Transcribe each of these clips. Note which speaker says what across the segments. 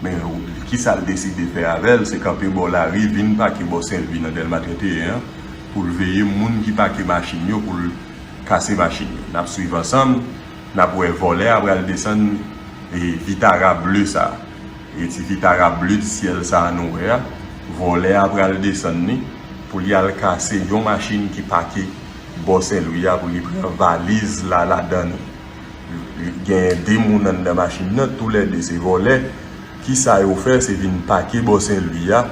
Speaker 1: Men, ki sa l deside fè avè l? Se kanpe bò lari, vin pake bò Senlvi nan Dèlma 31 an pou l veye moun ki pake machin yo pou l kase machin yo. N ap suiv ansanm, n ap wè vòlè a pral desann Vitara ble sa a. E ti Vitara ble disyèl sa a nou wè a, vòlè a pral desann li pou li al kase yon machin ki pake bò Senlwi a pou li pran valiz la ladann. Genyen 2 moun anndan machin nan tou lè 2 se vòlè, kisa yo fè se vin pake bò Senlwi a,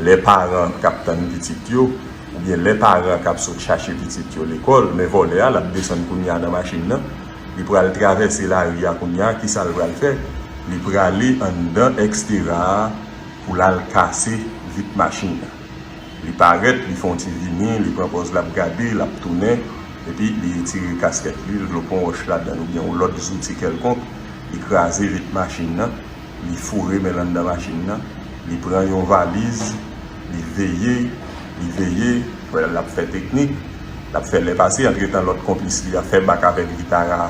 Speaker 1: lè paran kap tann pitit yo, oubyen lè paran kap sot chache pitit yo lekòl, men vòlè a lap desann kounya nan machin nan, li pral travèse lari a kounya kisal pral fè, li prale anndan Extera a pou lal kase vit machin nan. Li parèt, li fè yon ti vini, li pran pòz l ap gade, l ap tounen, epi li retire kaskèt li, l vlope yon wòch ladan l oubyen yon lòt zouti kèlkonk, li kraze vit machin nan, li foure men l anndan machin nan, li pran yon valiz, li veye, li veye, l ap fè teknik, l ap fè lè pase, antretan lòt konplis li a fè bak avèk Vitara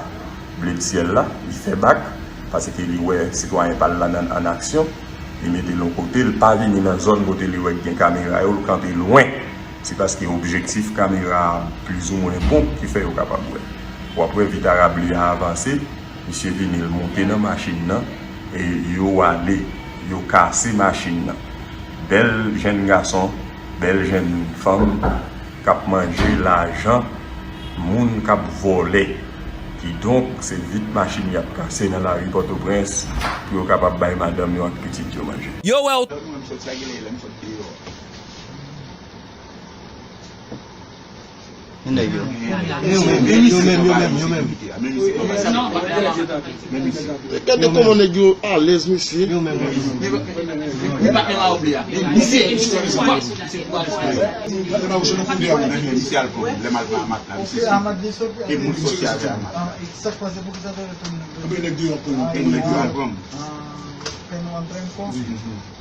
Speaker 1: Bled Syèl la, li fè bak, paseke li wè sitwayen pa l la nan an aksyon. li mete l yon kote l pa vini nan zòn kote li wè k gen kamera yo l kanpe lwen se paske objektif kamera a plizoumwen bon ki fè yo kapab wè w wap wè vitara ble a avanse misye vini l monte nan machin nan e yo ale yo kase machin nan bèl jenn gason bèl jenn fanm. kap manje lajan moun kap vòlè kidonk se vit machin yap kase nan lari pòtoprens pou yo kapab bay madanm yo ak pitit yo manje. Yo wè w t.
Speaker 2: Gade koman neg yo alez mesye.